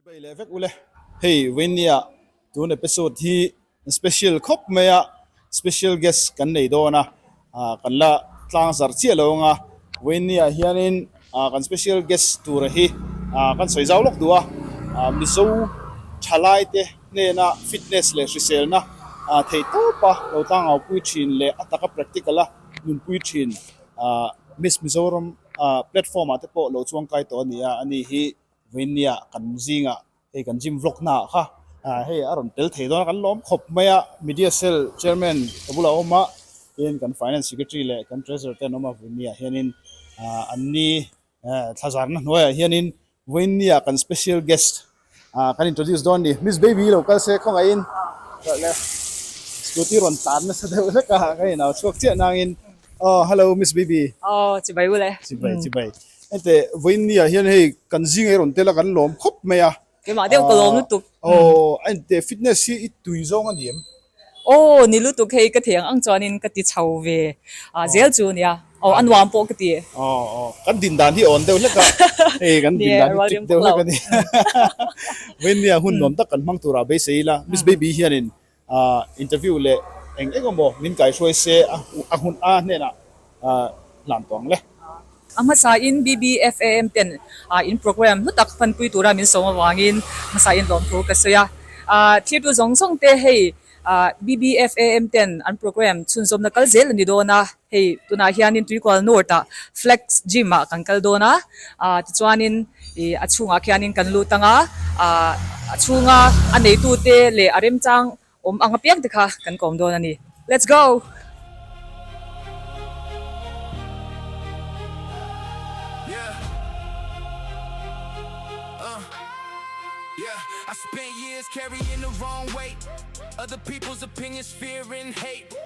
Chu bei leh vek ule. Hei Vainia tun episode hi special khawp mai a, special guest kan nei dawn a, kan la tlang zarh chiah lo ang a, Vainia hianin kan special guest tura hi kan sawi zau lawk duh a, Mizo thalai te hnena fitness leh hriselna thei tawp a lo tlangau pui thin leh a taka practical a nun pui thin Miss Mizoram platform ah te pawh lo chuangkai tawh a nia, ani hi. Vainia kan zinga hei kan gym vlog hna ah kha hei a rawn pel thei dawn a kan lawm khawp mai a media cell chairman ka bulah a awm a tin kan finance secretary leh kan treasurer te an awm a Vainia hianin an ni thlazarna hnuaiah hianin Vainia kan special guest kan introduce dawn a ni miss baby lo kal se khawngah in scooty rawn tlan nasa deuh hlek a ka inau chhuak chiah nangin. Oh hello Miss BB. Oh chibai ule. Chibai chibai. Ente voin nia hian hei kan zing ei ron tela kan lawm khawp mai a. Ke ma deuh ka lawm lutuk. Oh ente fitness hi i tui zawng a ni em? Oh ni lutuk hei ka theng ang chuan in ka ti chho ve. Ah zel chu nia. Oh a nuam pawh ka ti. Oh oh kan din dan hi awn deuh hlek a. Hei kan din dan hi chik deuh hlek a ni. Voin nia hun nuam tak kan hmang tur ah beisei ila Miss BB hian in A interview leh eng eng emaw min kai hruai se a hmun a hnenah hlan tawng le. A hmasain BBFAM ten in programme hnu tak fanpui tura min sawm avangin hmasain lawmthu ka sawi a. Thirtu zawng zawngte hei BBFAM ten an programme chhunzawmna kal zel a ni dawn a. Hei tunah hianin Tuikual North ah Flex Gym ah kan kal dawn a, ah tichuanin ih a chhungah khianin kan lut anga ah a chhunga a neitute leh a remchang awm ang apiang te kha kan kawm dawn a ni. Let's go!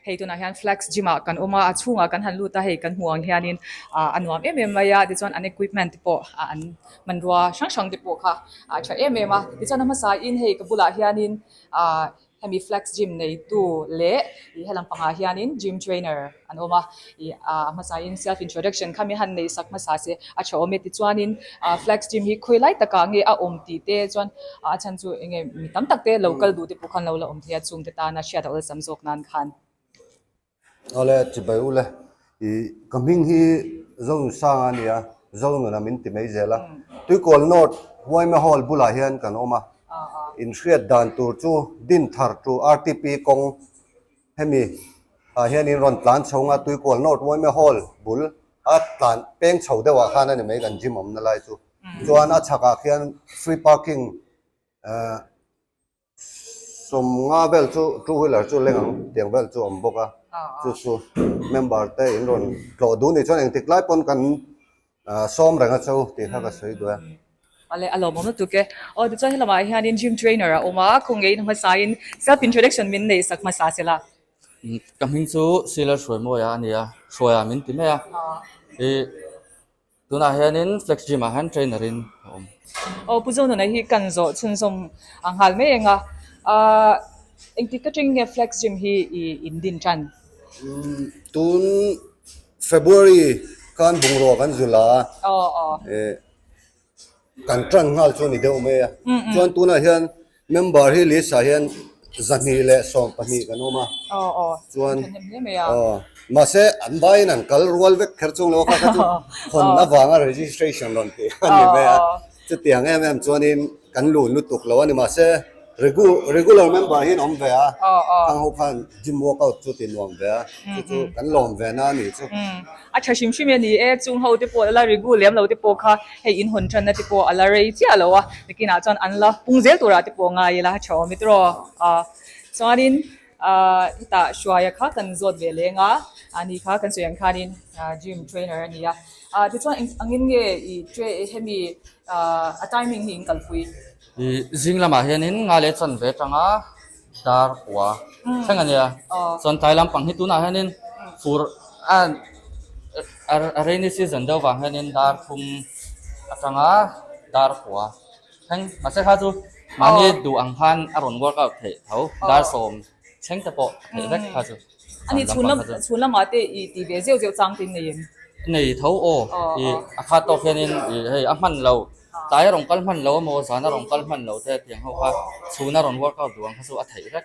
Hei tunah hian Flex Gym ah kan awm a, a chhungah kan han lut a, hei kan hmuh ang hianin a nuam em em mai a, tichuan an equipment te pawh an hmanrua hrang hrang te pawh kha a tha em em a, tichuan a hmasa in hei ka bulah hianin ahh hemi Flex Gym neitu leh hela pangah hianin Gym Trainer an awm a. Aa, hmasain self introduction kha mi han neih sak hmasa se a tha awm e tichuanin aa flag stream hi khawi lai takah nge a awm tih te chuan aa a chhan chu eng nge mi tam tak te lo kal duh te pawh khan lo la awm thei a chungte tan a hriat a awlsam zawk nan khan. Awle ti bai u le. I, ka hming hi Zone Sang a nia, Zone Nuna min ti mai zel a. Tuikawl North Huaima Hall bulah hian kan awm a. In hriat dan tur chu Din Thar to RTP kawng Hemi ah hian in rawn tlan chho nga tuikual North Waimea Hall bul a tlan peng chho deuh ah khan a ni mai kan gym awmna lai chu. Chuan a chhak ah khian free parking sawm nga vel chu two wheeler chu leng ang tiang vel chu a awm bawk a. Chu chu member te in rawn tlawh duh ni chuan engtik lai pawn kan Sawm reng a cho tih kha ka sawi duai a. Vale, a lawmawm lutuk e. Aw, tichuan he lamah hianin gym trainer a awm a, khaw ngeiin a hmasaiin self introduction min neih sak hmasa se la. Ka hming chu Silas Hruaimawia a ni a, Hruaia min ti mai a. I, tunah hianin Flex Gym ah hian trainer in ka awm. Aw, Pu Zawnunai hi kan zawh chhunzawm a nghal mai eng a. Ahh, engtik ka ṭeng nge Flex Gym hi i in din ṭan? Tun February khan bungrua kan zu la kan tan nghal chu ni deuh mai a chuan tunah hian member hi list ah hian zahnih leh sawm pahnih kan awm a chuan mahse an vaiin an kal rual vek kher chung lo a kha kha chu hawn avanga registration rawn tih a ni mai a. Chutiang em em chuanin kan lu lutuk lo a ni mahse regular member hi an awm ve a, khang ho khan gym workout chu ti nuam ve a, chu chu kan lawm ve na a ni chu. A tha hrim hrim e ni e, chung ho te pawh la la regu lem lo te pawh kha hei in hawn thanna te pawh a la rei chiah lo a, nakinah chuan an la pung zel turah te pawh ngai ila a tha awm e tiraw, a chuanin. Ahh i tah hruaia kha kan zawt ve leng a, a ni kha kan sawi ang khanin gym trainer a ni a, ahh tichuan angin nge i tra hemi ahh a timing hi in kalpui? I zing lamah hianin nga leh chan ve tanga dar pua thleng a nia, chuan tlai lampang hi tunah hianin fur a rainy season deuh vang hianin dar thum atanga dar pua Thleng mahse kha chu mahni duh ang khan a rawn work out theih tho, dar sawm thleng te pawh a theih vek kha chu. A ni chhun lam chhun lamah te i tih ve ziau ziau chang te i nei em? I nei tho aw, i a khat tawk hianin i hei a hman lo, tlai a rawn kal hman lo emaw zan a rawn kal hman lo te a piang ho kha chhun a rawn work out duh ang kha chu a theih vek.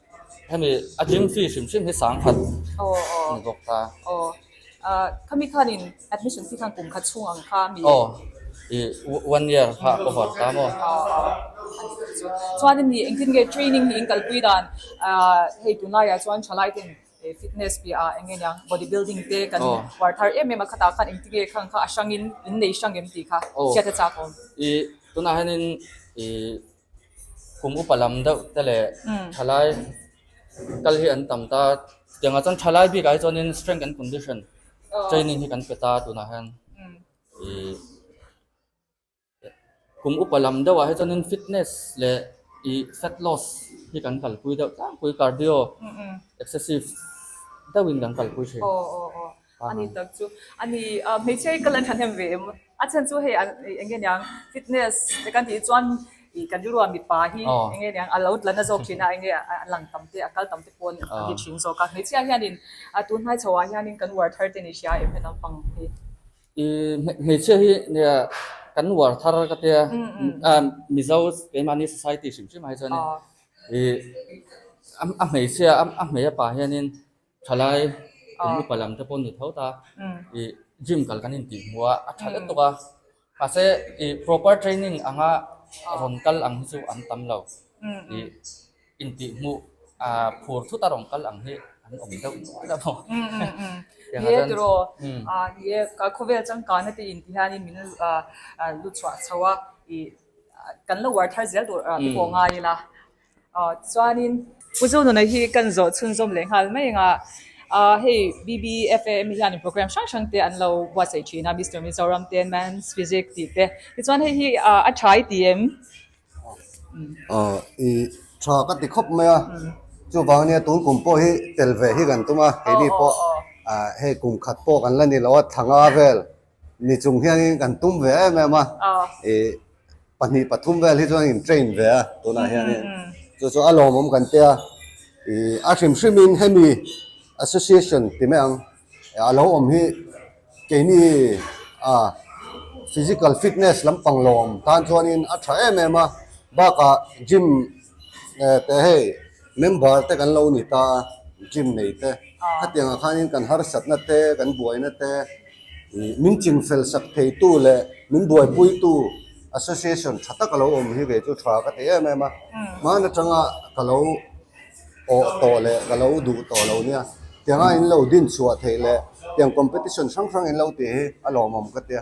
Hemi a gym fee hrim hrim hi sang khat a ni bawk ta. Khami khanin admission fee khan kum khat chhung ang kha a mi? Aw, i one year kha a cover ta maw? Chuanin i engtin nge training hi in kalpui dan? Hei tunlaiah chuan tha lai ten fitness piahah eng nge nia body building te kan uar thar em em a khatah khan engtin nge khan kha a hrangin in nei hrang em tih kha hriat a chak awm. I tunah hianin i. kum upa lam deuh te leh thalai kal hi an tam ta tiang ah chuan thalai bik ah hi chuan in strength and condition training hi kan pe ta tun ah hian ih kum upa lam deuh ah hi chuan in fitness leh ih fat loss hi kan kal pui deuh tlangpui cardio excessive deuh in kan kal pui thin. a ni tak chu a ni a hmeichhia hi kal an thahnem ve em a chhan chu hei eng nge niang fitness te kan tih chuan i kan rilruah mipa hi eng nge niang a lo tla na zawk thin a eng nge a lang tam te a kal tam te pawhin a ni thin zawk a hmeichhia hian in a tun hnai chhoh ah hian in kan uar thar te ni hria em heta pang hi i hmeichhia hi nia kan uar thar ka te a mizo keimah ni society hrim hrim ah hi chuan i a hmeichhia a hmei a pa hian in Thalai kum upa lam te pawh ni tho ta i gym kal kan intih hmu a, a tha let tuk a. Mahse i proper training anga rawn kal ang hi chu an tam lo i intih hmu phur thut a rawn kal ang hi an awm deuh nual a maw. Tianga chuan. Ni e tiraw, ni e ka khawvel changkana te in ti hianin min lu chhuah chho a, i kan lo uar thar zel tur te pawh ngai ila. Tichuanin. Pu Zu Nunei hi kan zawh chhunzawm leh nghal mai anga hei BBFAM hi hianin programme hrang hrang te an lo buatsaih thin a, Mister Mizoram te, Man's Physics tih te. Tichuan hei hi a tha i ti em? I tha ka ti khawp mai a, chuvang ania tun kum pawh hi tel ve hi kan tum a, keini pawh hei kum khat pawh kan la ni lo a, thanga vel ni chung hianin kan tum ve em em a e pahnih pathum vel hi chuan in train ve a tunah hianin chu chu a lawmawm kan tia i a hrim hrimin hemi association ti mai ang a lo awm hi keini a physical fitness lampang lawm tan chuanin a tha em em a baka gym te hei Member te kan lo ni ta a, gym nei te, khatiang ah khan in kan harsat na te, kan buai na te, ih min chin fel sak thei tu leh min buai pui tu association tha tak a lo awm hi ve chu tha ka ti em em a, hman a tang a ka lo awh tawh leh ka lo duh tawh lo nia, tiang a in lo din chhuah theih leh tiang competition hrang hrang in lo tih hi a lawmawm ka tia.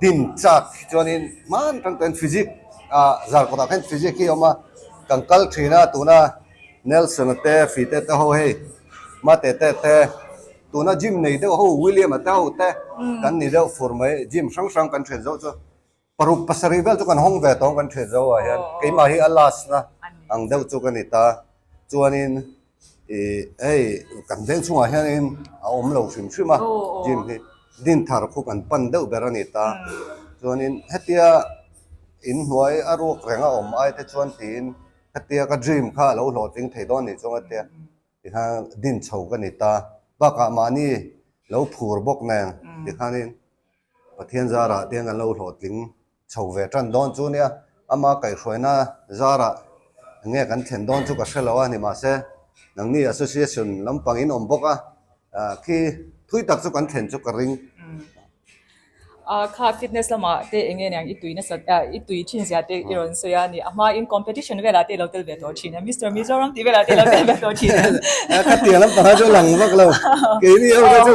Tin chak hi chuanin hman atang chuan Physics a zar kawtah khan Physics hi a awm a, kan kal thin a tuna Nelson a te Fee te te ho hei Mate te te tuna gym nei deuh ho William a te ho te kan ni deuh fur mai gym hrang hrang kan ṭhen zo chu paruk pasarih vel chu kan hawng ve tawng kan ṭhen zo ah hian keimah hi a last na ang deuh chu ka ni ta chuanin hei kan veng chungah hianin a awm lo hrim hrim a gym hi din thar khup an pan deuh ber a ni ta chuanin hetia in hnuai a ruak reng a awm ai te chuan tiin hetia ka dream kha a lo hlawhtling thei dawn nih chuan hetia ti kha din chho ka ni ta bakah mahni lo phur bawk nen ti khanin pathian zarah te hian a lo hlawhtling chho ve tan dawn chu nia, ama kaihhruaina zarah nge kan thlen dawn chu ka hre lo a, ni mah se nangni association lampangin awm bawk a, khi thui tak chu kan thlen chu ka ring. A kha fitness lamah te eng nge niang i tui nasa a, i tui thin zia te i rawn sawi a ni, a hma in competition velah te i lo tel ve tawh thin a, Mister Mizoram tih velah te i lo tel ve tawh thin a. Ka tiang lampang ah chu a lang vak lo, keini ho te chu.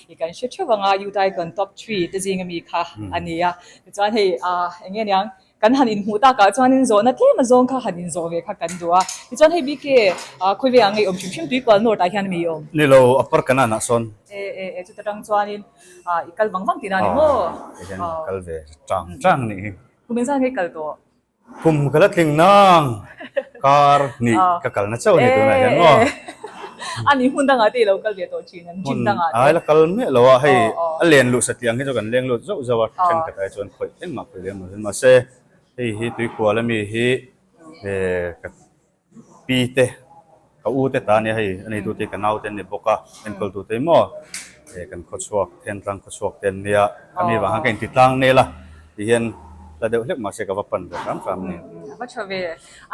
I kan hre theuh anga Utai Kawn top three te zing ami kha a ni a. Tichuan hei eng nge niang kan han inhmuh takah chuanin zawhna tlema zawng kha han inzawh ve kha kan duh a. Tichuan hei BK khawi vengah ngeiawm hrim hrim tuipual north ah hian a miawm. Ni lo, a par ka nanah sawn. E e e chuta tang chuanin i kal vang vang tih nan emaw? Aw. Kal ve tang tang nih hi. Kum in zan nge kal tawh? Khum ka la tling nang. Car hnih ka kal na chauh a ni tunah hian maw? A ni, hmun dangah te i lo kal ve tawh thin an, gym dangah te. Ai la kal miah lo a, hei a len luh satliang hi chu kan leng lut zauh zauh a, thenkhat ai chuan khawih engmah khawih lem lo. Mahse, hei hi tuikhual ami hi ka Pi te, ka u te ta nia hei, a neitu te hi ka nau te an ni bawk a, enkawl tu te hi maw he kan khaw chhuak, Thentlang khaw chhuak te an nia, ka mi vang khan ka intitlang nel a, ti hian hla deuh hlek mahse ka va pan ve tlam tlam nen. A va tha ve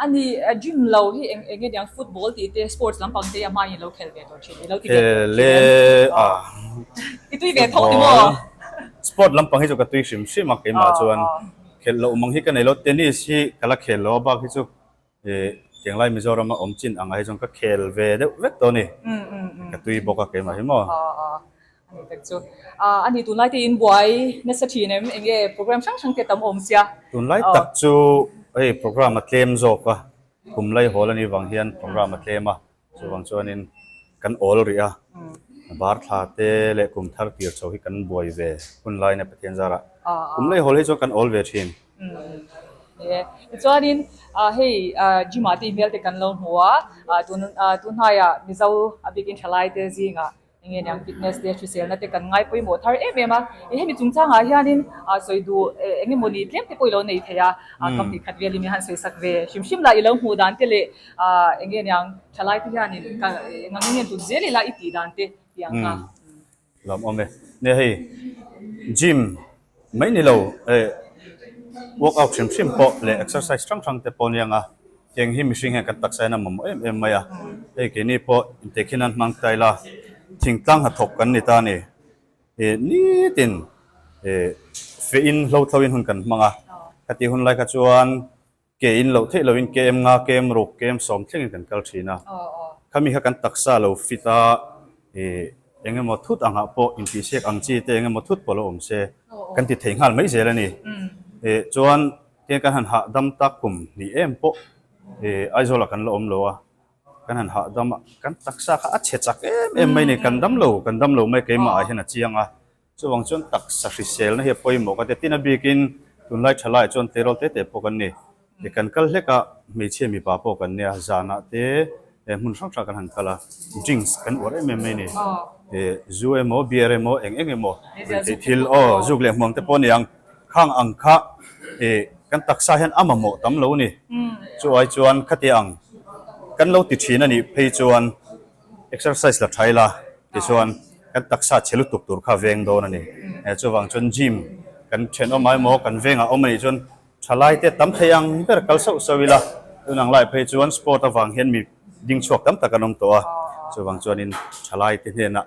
a ni, a dream lo hi eng enge nia, football tih te, sports lampang te hi a hmain i lo khel ve tawh thin, i lo ti ve tawh thin em? Aw, i tui ve thawk ni maw? Football, sport lampang hi chu ka tui hrim hrim a, keimah chuan khelh loh mang hi ka nei lo, tennis hi ka la khel lo a bak hi chu. He Chianglai Mizoram a awm chin angah hi chuan ka khel ve deuh vek tawh a ni. Ka tui bawk a keimah hi maw. A ni tak chu. A ni tunlai te in buai nasa thin em? Eng nge program hrang hrang te tam awm sia. Tunlai tak chu hei program a tlem zawk a, kum laihawl a nih vang hian program a tlem a. Chuvang chuanin kan awl rih a, var thla te leh kum thar tir chho hi kan buai ve hun laina Pathian zarah kum lei hawl hi chuan kan awl ve thin. Ni e. Chuanin hei gym ah te inhmel te kan lo hmu a, tun tun hnaiah Mizo a bikin thlalai te zingah Eng nge niang fitness te hriselna te kan ngai pawimawh thar em em a, hemi chungchangah hianin sawi duh eng emaw ni tlem te pawh i lo nei thei a, ka hmeh khat velin i han sawi sak ve. Hrim hrim lah i lo hmuh dan te leh eng nge niang thalai te hianin ka ngang nge tut zel ila i tih dan te tih ang kha. Lam awm e. Nia hei gym. Mai ni lo e, work out hrim hrim pawh leh exercise hrang hrang te pawh ni ang a, heng hi mihring hian kan taksa hian a mamawh em em mai a, hei keini pawh intekhin an hmang ta ila, thingtlang hnathawk kan ni ta a ni, e nitin e fein hlothloin hun kan hmang a, khati hun lai kha chuan Ke in loh theih loin ke em nga, ke em ruk, ke em sawm thlengin kan kal thin a. Khami kha kan taksa lo fit a, ih, eng emaw thut angah pawh intihsiak ang chi te eng emaw thut pawh lo awm se kan ti thei nghal mai zel a ni. Ih, chuan keng kan han hahdam tak kum hnih em pawh, ih, Aizawlah kan la awm lo a, kan han hahdam a, kan taksa kha a chhe chak em em mai a ni. Kan dam lo, kan dam lo mai keimahah hian a chiang a. Chuvang chuan taksa hriselna hi a pawimawh ka ti. Tin a bikin tunlai tha lai chuan tleirawl te te pawh kan ni. I kan kal hlek a, hmeichhia mipa pawh kan nia. Zanah te leh hmun hrang hrang kan han kal a. Drinks kan uar em em mai ni. Zu emaw, beer emaw, eng eng emaw. Riltei thil, aw, zuk leh hmuang te pawh a ni ang. Khang ang kha kan taksa hian a mamawh tam lo a ni. Chu ai chuan khatia ang kan lo ti thin a nih phei chuan. Exercise la tha ila tichuan kan taksa chhe lutuk tur kha a veng dawn a ni. Chuvang chuan gym kan then awm ai maw, kan vengah awm a nih chuan tha lai te tam thei ang ber kal sauh sauh ila. Tun ang lai phei chuan sport avang hian mi ding chhuak tam tak an awm tawh a, chuvang chuanin tha lai te hnenah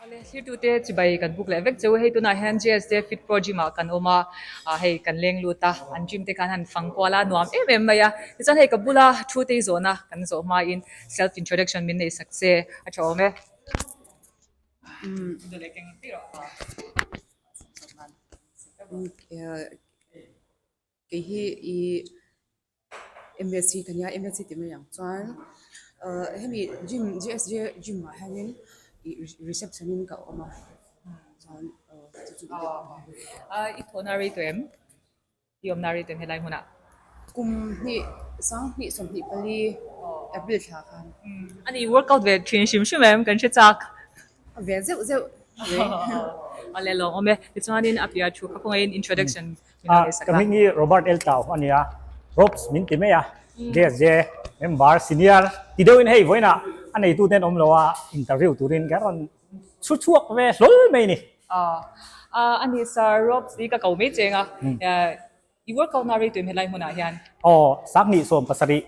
Hale thirtute chibai kan buk leh vek che u hei tunah hian GS te fitpro gym ah kan awm a hei kan leng lut a an gym te khan han fang kual a nuam em em mai a tichuan hei ka bula thu te hi zawhna kan zawh hma in self introduction min nei sak che a tha awm e umm Kei hi i MSG ka nia, MSG tih mai ang chuan hemi gym, GSJ gym ah hianin i reception in ka awm a, chuan chu chu i get awm a. Aww, a i thawhna rei tawh em? I awmna rei tawh em helai hmunah? Kum hnih, Sang hnih, Sawmhnih pali, April thla khan. A nih i workout ve thin hrim hrim em? Kan hre chak. A ve zeuh zeuh. Aww, aww. Aww leh lawng awm e. Tichuanin a piahah thu kha khawngaihin introduction Ah, ka ming hi Robert L. Tau a nia. Robs min ti mai a, JSJ member, senior, ti deuhin hei vawiina a neitu ten awm loa interview turin ka rawn chhu chhuak ve hlawl mai ni. Ah, a ni sir, Robs hi ka ko mai cheng a, i workout na reituim helai hmunah hian. Aw, Sanghnih sawm pasarih,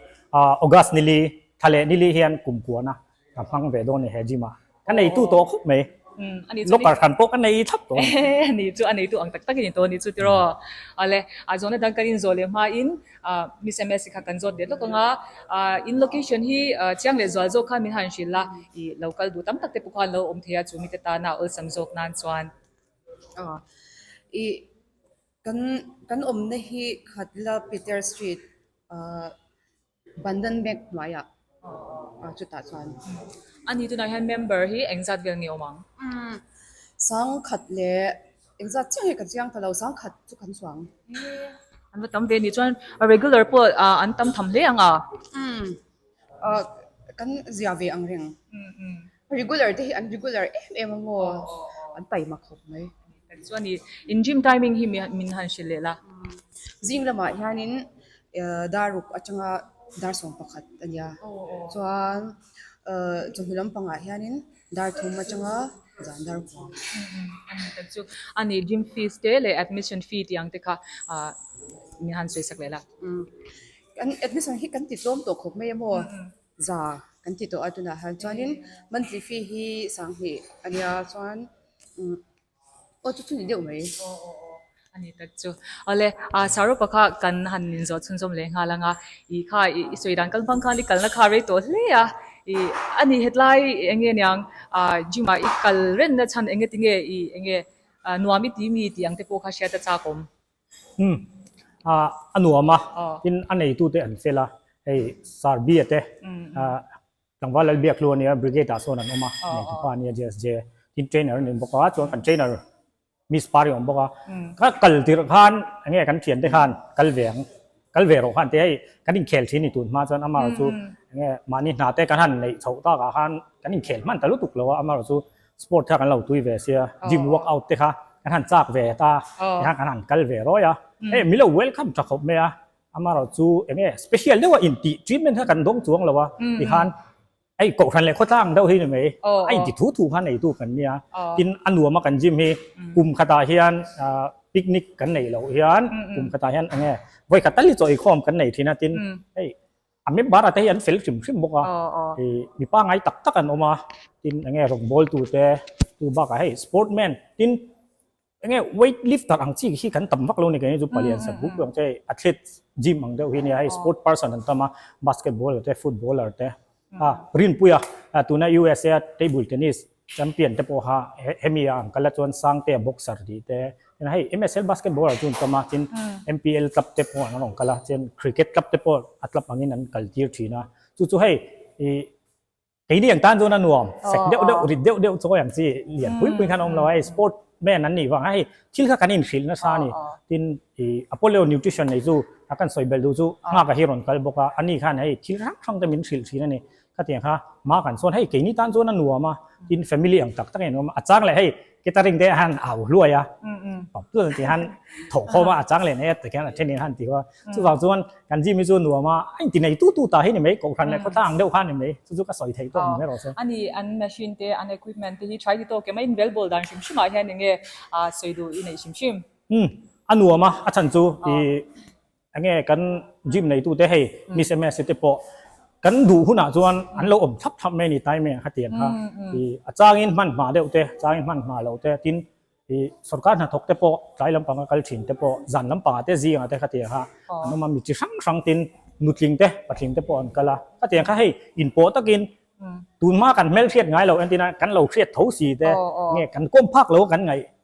August nili, tha leh nili hian kum kuana. Ka hmang ve dawn e he gym a. Ka nei tu tawh khawp mai. Locker hran pawh ka nei thlap dawn. Ni chu a nei tu ang tak tak i ni tawh ani chu tiraw. Awle. A zawhna dan kan inzawh leh hma in Miss MSc kha kan zawt ve hlawk anga in location hi chiang leh zual zawk khan min han hrilh a i lo kal duh tam tak te pawh khan lo awm thei a chu mite tan a awlsam zawk nan chuan i kan kan awmna hi Khatla Peter Street. Bandhan Bank hnuaiah a chutah chuan. A ni tunah hian member hi engzat vel nge awm ang? Sang khat leh engzat chiah hi ka chiang ta lo, sang khat chu kan chuang. An va tam ve ni chuan regular pawh an tam tham hle ang a? Kan zia ve ang reng. Regular te hi an regular em em a maw? An pai mak hawk mai. Tichuan i in gym timing hi min han hrilh leh la. Zing lamah hianin dar uk atanga dar sawm pakhat a nia. Chuan chawhnu lampangah hianin dar thum atanga zan dar huam. A ni tak chu. A ni gym fees te leh admission fee tih ang te kha min han sawisak leh la. Admission hi kan titlawm tawh khawp mai a maw? za kan ti tawh a tunah hian chuanin monthly fee hi sang hnih a nia chuan umm aw chu chu ni deuh mai aw aw aw ani tak chu awle a saropa kha kan han inzawh chhun zawm leh nghal anga i kha i i sawi dan kal bang khan i kalna kha a rei tawh hle a i a ni hetlai eng nge niang a gym ah i kal renna chhan eng nge ti nge i eng nge a nuam i ti mi tih ang te pawh kha hriat a chak awm. Umm, ah, a nuam a, tin a neitu te an fel a, hei Sarbia te, ah, tlangval lal biak hlu a nia, brigade ah sawn an awm a, neitu pa a nia, JSJ, tin trainer an nen bawk a, chuan kan trainer miss par hi a awm bawk a, ka kal tirh khan, enge kan thiante khan kal ve ang. Kal ve erawh khan te hei kan inkhel thin ni tun hma chuan ama erawh chu enge mahni hna te kan han neih chhoh tak ah khan kan inkhel hman ta lutuk lo a, ama erawh chu sport kha kan lo tui ve sia, gym work out te kha kan han chak ve ta ti kha kan han kal ve rawi a, hei milo welcome tha khawp mai a, ama erawh chu enge special deuh a intih treatment kha kan dawng chuang lo a ti khan. Hei kohhran leh khawtlang deuh hi ni mai, a inti thu thu kha neitu kan ni a, tin a nuam a kan gym hi kum khatah hian picnic kan nei loh hian kum khatah hian enge vawikhat tal hi chaw eikhawm kan nei thin a, tin hei a member a te hi an fel hrim hrim bawk a, hei mipa ngai tak tak an awm a, tin enge rawn bawltu te, tubakah hei sportman tin Enge weight lifter ang chi hi kan tam vak lo ni keng hi chu pali an sat buk ang che athletes gym ang deuh hi nia hei sport person an tam a basketball te footballer te a rinpui a tuna usa a table tennis champion te pawh ha hemi a ang kal a chuan sang te a boxer tih te tin hei msl basketball chu an tam a tin mpl club te pawh an rawn kal a chen cricket club te pawh a club angin an kal tir thin a chu chu hei i Keini ang tan chuan a nuam fek deuh deuh, rit deuh deuh chuai ang chi, lian pui pui khan a awm lo a, hei sport man an nih vangah hei thil kha kan inhrilh nasa a ni. Tin, i Apollo Nutrition nei chu a kan sawi belh duh chu a nghakah hi rawn kal bawk a, ani khan hei thil hrang hrang te min hrilh thin a ni. Khatiang kha Mark-an chuan hei keini tan chuan a nuam a, tin family ang tak takin an awm a, a chang leh hei Kita ring te han a u hluai a, pam tu ti han tho khom a chang len e takian a then in han ti kho. Chu vang chuan kan ji mi chu nuam a a inti nei tu tu ta hi ni mai kohhran leh khawtlang ang deuh khan ni mai chu chu ka sawi thei tawk ni rau se. Ani an machine te an equipment te hi thlai ti tawk kema in bel bawl dan hrim hrim ah hian enge a sawi duh i neih hrim hrim. Umm a nuam a a chhan chu i Enge kan gym neitute hei Miss MSC te pawh kan duh hunah chuan an lo awm thlap thlap mai a ni Taime ang kha ti ang kha. I a changin hman hma deuh te, changin hman hma lo te tin i sorkar hnathawk te pawh tlai lampanga kal thin te pawh zan lampanga te zingah te kha ti ang kha an awm a. Mi chi hrang hrang tin nutling te, patling te pawh an kal a. Kha ti ang kha hei inpawh takin tun hma kan hmel hriat ngai lo entin a kan lo hriat tho si te nge kan kawm phak lo kan ngaih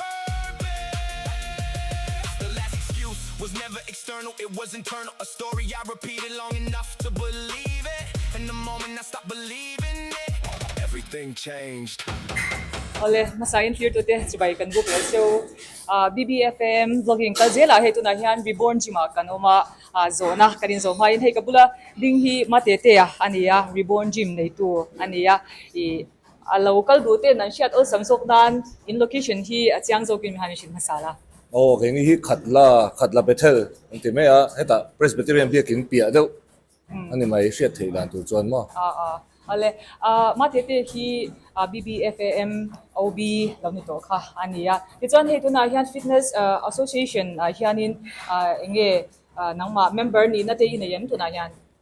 Purpose The last excuse was never external it was internal A story I repeated long enough to believe it And the moment I stopped believing it everything changed. Aw le, hmasa in thlir tute chu bai kan buk leh se u. BBFAM vlogging kal zel ah hei tunah hian Reborn Gym ah kan awm a, zawh na kan in zawh hma in hei ka bula ding hi Matetea a ni a, Reborn Gym nei tu a ni a, ih. A lo kal duh te'n an hriat awlsam zawk nan in location hi a chiang zawkin mi ha an i hrilh hmasa la. Aw, kei ni hi khat la, khat la Bethel an ti mai a, hetah Presbyterian biakin piah deuh a ni mai hriat theih dan tur chuan maw? Aw le, Mathete hi BBFAM OB lo ni tawh kha a ni a. Tichuan hei tunah hian Fitness Association ah hianin enge nangmah member nihna te in a eng tunah hian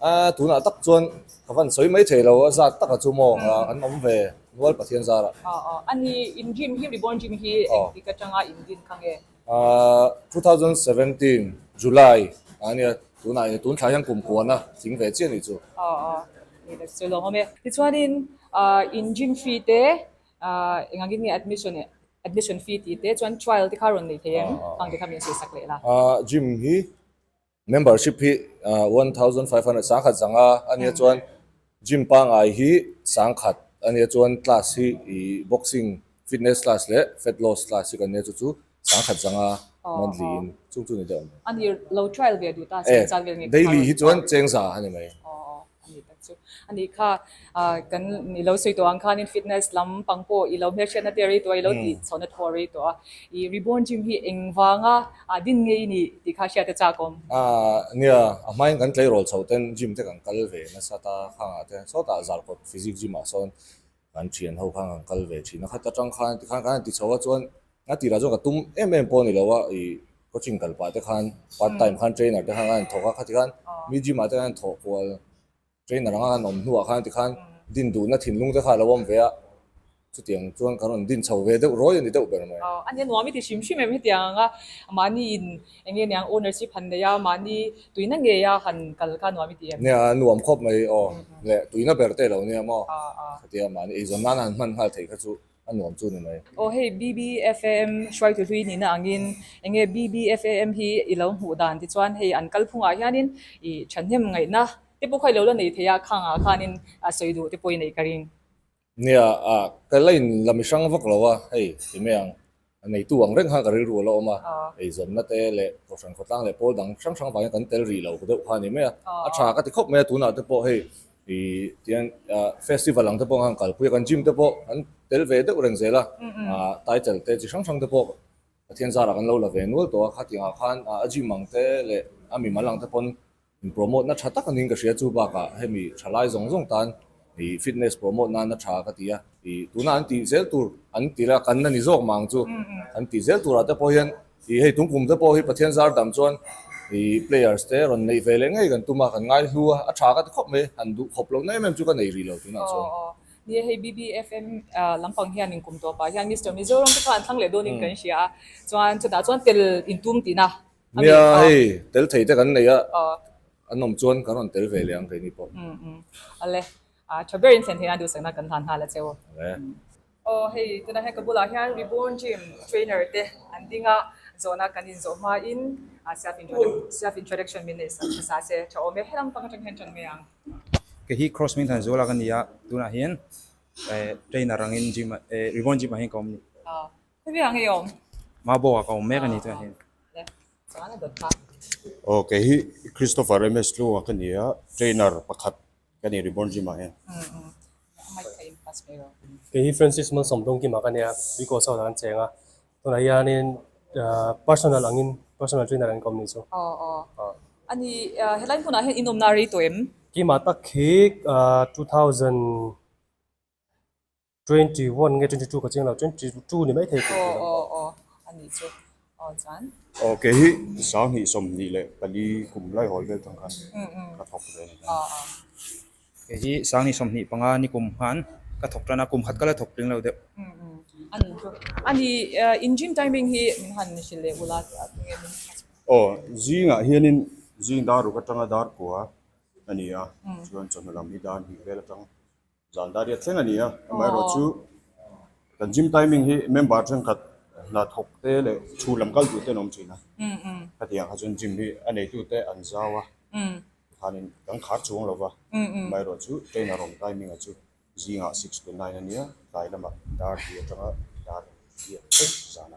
A, tunah tak chuan ka van sawi mai thei lo a, zat taka chu maw an awm ve nual Pathian zarah. A, a ni, in dream hi reborn dream hi eng tik atanga in din kha nge? A, two thousand seventeen July a nia, tunah eng tun thlai hian kum puan a ching ve chiah ni chu. A, a ni le sawi lo hawm e. Tichuanin a, in dream fee te, a, engangin nge admission e, admission fee tih te chuan trial te kha rawn nei thei em? Khang te kha min sawi sak leh la. A, dream hi Membership hi one thousand five hundred sangkhat zanga a nia chuan gym pangai hi sangkhat a nia chuan class hi ih boxing fitness class leh fat loss class hi kan nia chu chu sangkhat zanga monthly in chung chu ni deuh a ni. Ani lo trial ve duh ta cheng chak vel ngei ka hmang lo. Daily hi chuan chengza a ni mai. Ani tak chu a nih kha. Kan i lo sawi tawh ang khanin fitness lam pang pawh i lo hmelhriatna tel rei tawh a, i lo tih chhohna thuaw rei tawh a. I Reborn Gym hi eng vanga a din ngei i nih tih kha hriat a chak awm. Nia, a hmain kan tleirawl chhoh ten gym te kan kal ve nasat a, khangah te sawtah zarkawt physique gym ah sawn Kan thian ho khan kan kal ve thin a khat atang khan tikhan kan han ti chho a chuan a tirah chuan ka tum em em pawh a ni lo a i coaching kal pah te khan part time khan trainer te khan kan han thawk a khati khan mi gym ah te kan han thawh kual trainer anga kan awm hnu ah khan tikhan din duh na thinlung te kha alo awm ve a chutiang chuan kan rawn din chho ve deuh rawi a ni deuh ber mai. Ania nuam i ti hrim hrim em hetiang anga mahni in Eng nge niang ownership han nei a, mahni tuina ngeia han kal kha nuam i ti em? Nia, a nuam khawp mai aw, leh tuina ber te lo nia maw? Ka ti a, mahni eizawn nana han hman nghal theih kha chu a nuam chu ni mai. Aw, hei BBFAM hruaitu hlui nihna angin eng nge BBFAM hi i lo hmuh dan ti chuan hei an kal phungah hianin i thahnem ngaihna te pawh kha i lo la nei theih a, khangah khanin sawi duh te pawh i neih ka ring. Nia a ka la in la mi hrang vak lo a hei ti mai ang a neitu ang reng khan ka rilru ala awm a eizawnna te leh kohhran khawtlang leh pawl dang hrang hrang vangin kan tel rih lo ka deuh kha ni mai a a tha ka ti khawp mai a tunah te pawh hei i tihian festival ang te pawh khan kalpui a kan gym te pawh kan tel ve deuh reng zel a title te chi hrang hrang te pawh Pathian zara kan lo la ve nual tawh a khatiang ah khan a gym ang te leh a mimal ang te pawn In promote na tha tak angin ka hria chu bakah hemi tha lai zawng zawng tan i fitness promote nana tha ka ti a i tuna an tih zel tur an ti la kan na ni zawk mang chu an tih zel turah te pawh hian i hei tungpum te pawh hi Pathian zar dam chuan i players te rawn neih ve leh ngei kan tum a kan ngai hlu a a tha ka ti khawp mai han duh khawp lo na em em chu ka nei rih lo tunah chuan. Nia hei BBFM lam pang hian in kum tawp ah hian Mister Mizoram te kha an thlang leh dawn in kan hria a chuan chutah chuan tel in tum tih na Nia hei tel thei te kan nei a, an awm chuan kan rawn tel ve leh ang keini pawh. A le, a tha berin thlen theihna duhsakna kan hlan nghal a che u. Aw hei tuna hian ka bulah hian Reborn Gym trainer te an ding a, zawhna kan inzawh hmain self introduction min neih sawm hmasa se, tha awm e, helang pang atang hian tan mai ang. Kei hi Cross min han zualak a ni a, tunah hian trainer angin gym, Reborn Gym ah hian ka awm a ni. Aw kei hi Christopher ms hlua ka ni a trainer pakhat ka ni Reborn Gym ah hian kei hi Francis Malsawm Dawngkim ah ka ni a tui coach ho lah an cheng a tunah hianin personal ang in personal trainer ang in ka awm ni chu aw aw aw ani helai hmunah hian inawm na a rei tawh em? Keimah tak hi two thousand Twenty one nge twenty two ka chiang lo twenty two ni mai thei tih ka lo awh awh a nih chu aw chuan kei hi sang hnih sawm hnih leh pali kum lai hawl vel tawng khan ka thawk ve a ni hian kei hi sang hnih sawm hnih panga ni kum khan ka thawk tan a kum khat ka la thawk tling lo deuh a nih chu a ni in gym timing hi min han hrilh leh ula tih a tunge min hrilh aw zing ah hian in zing dar ruk atanga dar kua a ni a chuan chawhnu lam hi dar hnih vel atang. Zan dâria thleng a nia, amaherawh chu kan gym timing hi member thenkhat hna thawk te leh thu lam kal duh te'n awm thin a, hetiang kha chuan gym hi a neitu te an zau a, tikhanin kan khar chuang lo va, amaherawh chu trainer awm timing a chu zingah six to nine a nia, tlai lamah dardi atanga dar a ni a, zana.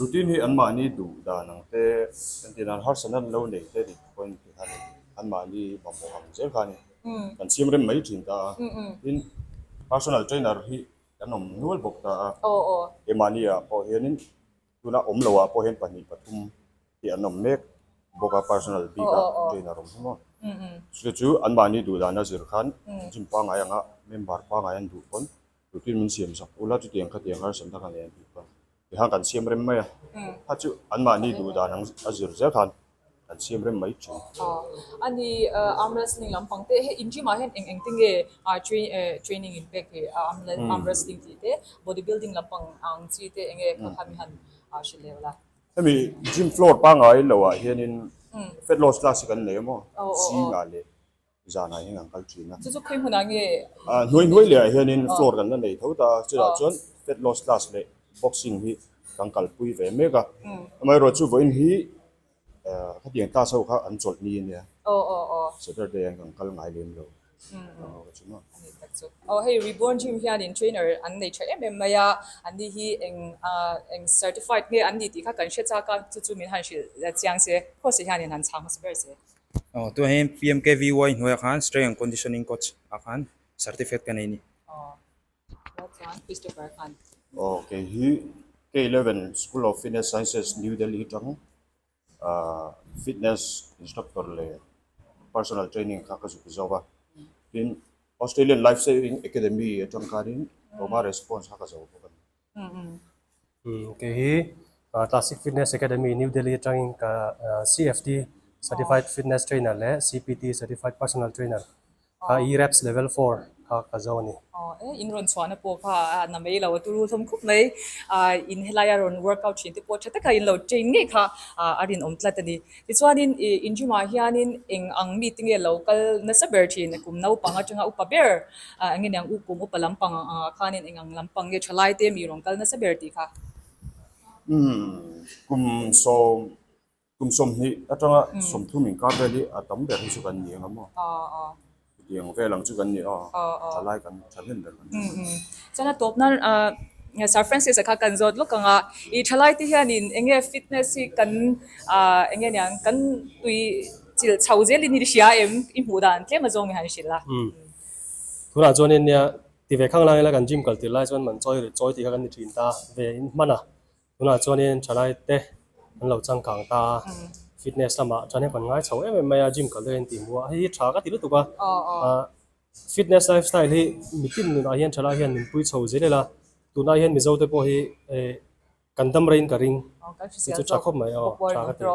Routine hi anmahni duh dan ang te, entirhan harsa nan lo nei te dik pawhin khi khan anmahni mamawh ang zel khan kan siam rem mai thin ta a. Tin, personal trainer hi kan awm nual bawk ta a. Keimahni ah pawh hianin tuna awm loah pawh hian pahnih pathum hi an awm mek bawk a, personal bik a trainer awm hi maw. Chute chu anmahni duh dan a zir khan gym pangngai anga member pangngai an duh pawn. Putin min siam zak ula chuti ang khatiang harsat na kha nei an tih kha tikhang kan siam rem mai a, kha chu anmahni duh dan ang a zir zel khan kan siam rem mai thin. Ani arm wrestling lampang te he in gym ah hian eng eng te nge training in pek hi arm wrestling tih te body building lampang ang chi te eng nge kha khan han hre leh la. Hemi gym floor pangai lo ah hian in fat loss class hi kan nei a maw? Zinga leh. zanah hian an kal thin a. Chu chu khawi hmunah nge a inneih a? Hnuai hnuai lehah hianin floor kan la nei tho ta a, chutah chuan fat loss class leh boxing hi kan kalpui ve mek a, amaherawh chu vawiin hi khatiang class ho kha an chawlh ni a nia, Saturday an kan kal ngai lem lo a chu maw. A ni tak chu. Aw hei Reborn Gym hianin trainer an nei tha em em mai a, an ni hi eng eng certified nge an ni tih kha kan hre chak a, chu chu min han hrilh chiang se, course hianin han chhang hmasa ber se. Aw tunah hian pmkvy hnuaiah khan strength and conditioning coach ah khan certificate ka nei a ni. Aw kei hi K eleven school of fitness sciences New Delhi atang ah fitness instructor leh personal training kha ka zuk zo a, tin Australian life saving academy atang khanin diploma leh certificate kha ka zo bawk a ni. Kei hi Classic Fitness Academy New Delhi atangin ka CFT Certified Fitness Trainer leh CPT Certified Personal Trainer kha ERAPS Level four kha ka zo a ni. Aw e, in rawn chhuahna pawh kha a na mai lo, a tu ru hlawm khawp mai. In helaia rawn workout thin te pawh tha taka in lo train ngei kha a rinawm tlat a ni. Tichuanin i in gym ah hianin eng ang mite nge lo kal nasa ber thin a kum naupang atanga upa ber ah enge niang u kum upa lampang ang angah khanin eng ang lampang nge tha lai te mi rawn kal nasa ber tih kha kum sawm kum sawm hnih atanga sawmthum inkar vel hi a tam ber hi chu kan ni eng emaw? Tiang vel ang chu kan ni a, a lai kan tha hnem ber kan ni a. Chuan a tawpna Sir Francis-a kha kan zawt lawk ang a, i thalai te hianin eng nge fitness hi kan eng nge niang kan tui chilh chho zel in i hria em, i hmuh dan tlem a zawngin han hrilh a. Tunah chuan eng nia, ti ve khang lak ila kan gym kal tirh lai chuan man chawi rit chawi tih kha kan ni thin ta, ve in hman a. Tunah chuanin thalaite an lo changkang ta a, fitness lamah chuan heng kan ngai chho em em mai a, gym kal daih a intih hmu a, hei hi tha ka ti lutuk a, fitness lifestyle hi mitin nunah hian thalai hian min pui chho zel zel a, tunah hian Mizo te pawh hi kan dam rei in ka ring ti chu tha khawp mai a, tha ka ti a.